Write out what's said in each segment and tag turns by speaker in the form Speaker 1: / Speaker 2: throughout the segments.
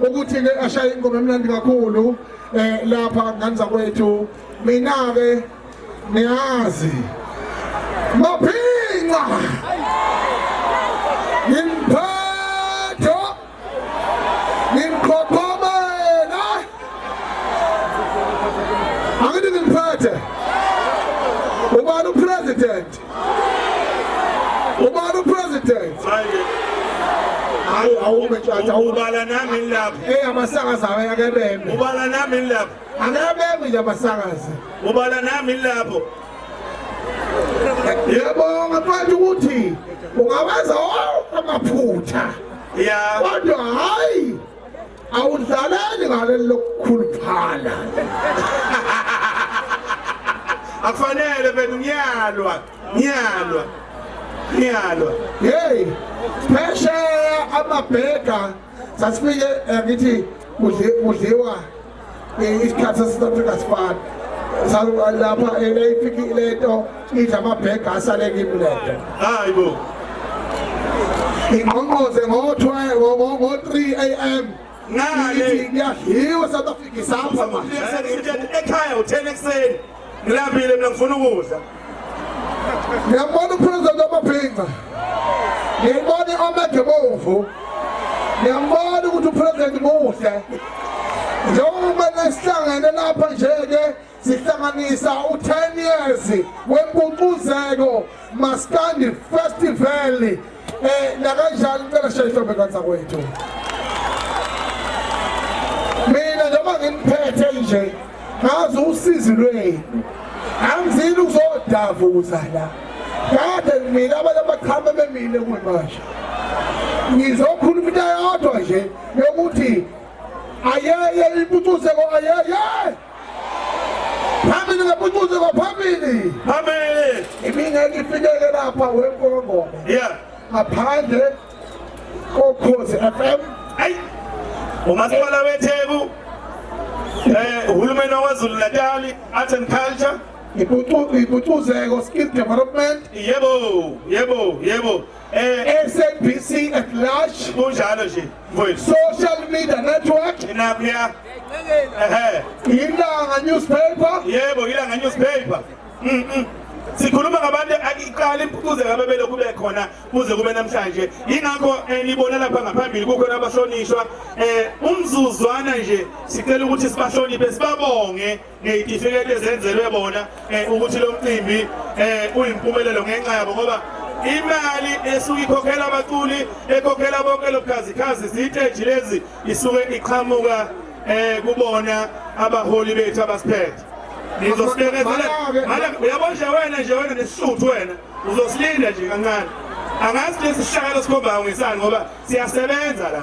Speaker 1: ukuthi ke ashaye ingoma emnandi kakhulu eh lapha ngani zakwethu mina ke niyazi maphinqa ngimphetho ngimqhoqhomela angithi ngimphethe ubani upresident ubani upresident hayi awume ntshatha ubala nami
Speaker 2: ngilapha eyi amasakazi awe
Speaker 1: akebeme ubala nami ngilapha
Speaker 2: akebeme nje
Speaker 1: amasakazi ubala nami
Speaker 2: ngilapho
Speaker 1: yebonga mfowethu ukuthi ungawenza wonke amaphutha ya kodwa hhayi awudlaleli ngaleli lokukhuluphala
Speaker 2: akufanele benu ngiyalwa ngiyalwa
Speaker 1: ngiyalwa hey phesheya amabheka sasifike eh, ngithi kudliwa ngenye isikhathi sasouth africa sifana lapha eyifikile lento idla amabhega asale kimi lento hayi bo ingqongqoze ngo-3 am ngale ngiyadliwa south africa isapha manje ekhaya
Speaker 2: u-10
Speaker 1: ekuseni Ngilambile mina ngifuna ukudla. Ngiyabona uPresident Amaphinga. Ngiyibona iOmega Bomvu. Ngiyambona ukuthi uPresident muhle. Njengoba nesihlangene lapha nje ke sihlanganisa u10 years wempucuzeko Maskandi Festival eh nakanjani cela shayihlobe kansa kwethu mina noma nginiphethe nje ngazi usizi lwenu angizile ukuzodava ukuzala kade mina abantu abachama bemile kwemasha ngizokhuluma into yodwa nje yokuthi ayeye impucuzeko ayeye phambili ngapuncuze kwaphambili phambili imingeke ifikele lapha wenkolongoma yeah ngaphandle kokhozi FM ay
Speaker 2: umasipala wetheku eh uhulumeni waKwaZulu Natal Arts and Culture
Speaker 1: ipucuzeko skill development yebo yebo
Speaker 2: yebo Eh,
Speaker 1: SABC at large kunjalo nje
Speaker 2: mfowethu social media
Speaker 1: network inaphiya
Speaker 2: ehe
Speaker 1: ilanga newspaper yebo ilanga
Speaker 2: newspaper mm -mm. sikhuluma ngabantu akiqala impucuze ngabe belokhu bekhona kuze kube namhlanje yingakho eh, nibona lapha ngaphambili kukhona abahlonishwa um umzuzwana nje sicela ukuthi sibahloniphe sibabonge ngeyitifiketi ezenzelwe bona eh, ukuthi lo mcimbi eh, uyimpumelelo ngenxa yabo ngoba imali esuke ikhokhela abaculi ekhokhela bonke lobukhazikhazi ziteji lezi isuke iqhamuka eh kubona abaholi bethu abasiphethe ngizosibekezela mala uyabo nje wena nje wena nesisuthu wena uzosilinda nje kancane angazi lesi sihlakalo sikhomba ngisani ngoba siyasebenza la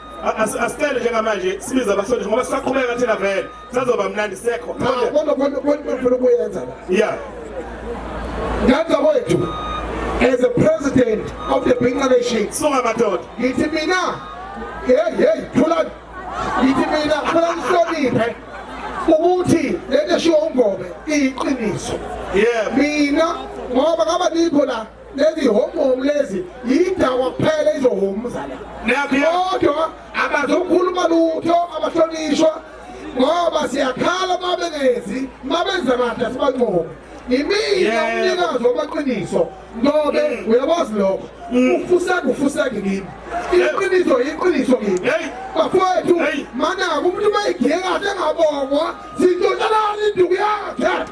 Speaker 2: asicele njengamanje sibiza abahlonishwa ngoba sisaqhubeka thina vele sazoba mnandi
Speaker 1: sekho kodwa kodwa
Speaker 2: ufuna
Speaker 1: ukuyenza la yeah ngaka wethu as a president of the Binqa nation songa madoda
Speaker 2: ngithi mina
Speaker 1: hey hey thula ngithi mina khona ngihloniphe ukuthi lento eshiwo ungobe iyiqiniso yeah mina ngoba ngaba nikho la lezi homu lezi yidakwa kuphela izohomu zala kodwa abazokhuluma lutho abahlonishwa ngoba siyakhala uma bengenzi uma benza kahle asibancomi imina umnikazi wamaqiniso ngobe mm. uyabazi lokho mm. ufuseka ufuseka kimi iqiniso iqiniso kimi bafowethu manaka umuntu uma igiye kahle engabongwa sintotshalani induku yakhe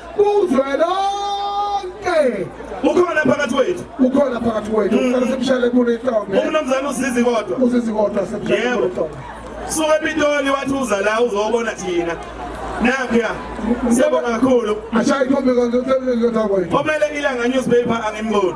Speaker 1: kuzwelonke ukhona phakathi
Speaker 2: wethu ukhona phakathi wethu
Speaker 1: mm. uqale semshale kulo ihlombe umnumzane usizi
Speaker 2: kodwa usizi kodwa semshale
Speaker 1: kulo ihlombe suka epitoli
Speaker 2: wathi uza la uzobona thina nakya siyabonga kakhulu ashaye
Speaker 1: ikhombe kanti
Speaker 2: usemleni
Speaker 1: kodwa kwethu
Speaker 2: omele
Speaker 1: ilanga
Speaker 2: newspaper
Speaker 1: angimboni